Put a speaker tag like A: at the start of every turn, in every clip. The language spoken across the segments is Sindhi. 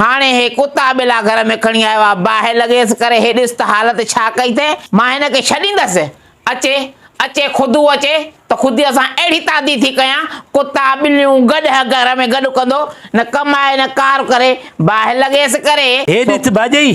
A: هاڻي هي ڪتا ٻلا گهر ۾ کڻي آيو آ، باهه لڳيس ڪري هي ڏس ته حالت ڇا ڪئي اٿئي، مان هن کي ڇڏيندس؟ اچي، اچي خودو اچي ته خوديء سان اهڙي تادي ٿي ڪيان، ڪتا ٻليون گڏهه گهر ۾ گڏ ڪندو، نه ڪم آهي نه ڪار ڪري، باهه لڳيس ڪري. هي ڏس ڀاڄئي،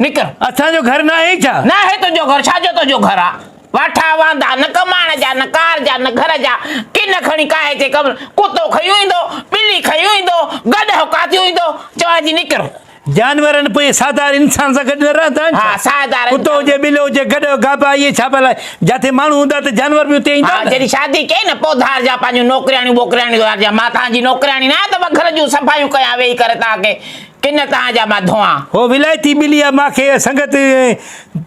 A: نڪر، اسان جو گهر ناهي
B: ڇا؟ ناهي تنهنجو گهر، ڇا
A: جو تنهنجو گهر آ؟ واٺا واندا، نه ڪماڻ جا، نه ڪار جا، نه گهر جا، ڪن کڻي ڪاهي جي قبر، ڪتو کنيون ايندو، ٻلي کنيون ايندو، گڏهه ڪاتيون ايندو، چوان جي نڪر. جانورن پوء
B: ساهدار انسان سان گڏ نه رهندا آهن ڇا؟ ها، ساهدار انسان. ڪتو
A: هجي، ٻلو هجي،
B: گڏهه، گابا، اهي ڇا ڀلا جتي ماڻهو هوندا ته جانور به اتي ايندا ها، نه؟ جڏهن شادي ڪئي نه، پوء
A: ڌار جا پنهنجون نوڪرياڻيون ٻوڪرياڻيون ڌار جا، مان توهان جي نوڪرياڻي ناهيان ته مان گهر جون صفايون ڪيان ويهي ڪري توهان کي. ڪن تان جا مان ڌوئان. هو ولائتي ٻلي آ ماکي
B: سنگت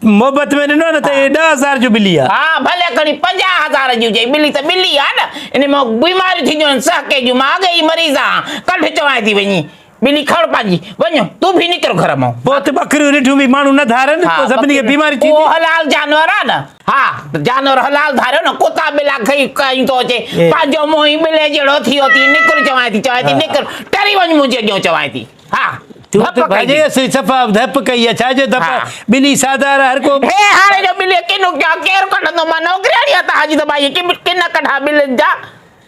B: محبت ۾ ڏنو آ نه ته هي ڏهه هزار جو ٻلي آ. ها ڀلي کڻي پنجاهه
A: هزار جي هجي ٻلي ته ٻلي آ نه ان مان بيماريون ٿينديون آهن سهڪي جون مان اڳي ئي مريض آهان ڪڍ چوانء ٿي وڃي ٻلي کڻ پنهنجي وڃ تون به نڪر گهر مان. پوء ته ٻڪريون رڍيون
B: به ماڻهو نه ڌارن پوء سڀني کي بيماري ٿيندي. اهو حلال جانور آ
A: نه. ها، جانور حلال ڌاريو نه، ڪتا ٻلا کئي کائي ٿو اچي، پنهنجو منهن ئي ٻلي جهڙو ٿيو ٿي، نڪر چوانء ٿي، چوانء ٿي، نڪر، ٽري وڃ منهنجي اڳيئون چوانء ٿي، ها، ڌپ ڪئي ٿي. سي
B: صفا ڌپ ڪئي ها، ڇا جو ڌپ، ٻلي سادا را هر ڪو. هي هاڻي جو ٻلي
A: ڪنو ڪيا، ڪير ڪڍندو، مان نوڪرياڻي آهيان تنهنجي ته ٻائي ڪن ڪڍا ٻلين جا،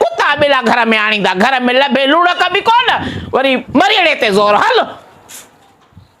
A: ڪتا ٻلا گهر ۾ آڻيندا، گهر ۾ لڀي لوڻڪ به ڪونه، وري مريڻي تي زور هل.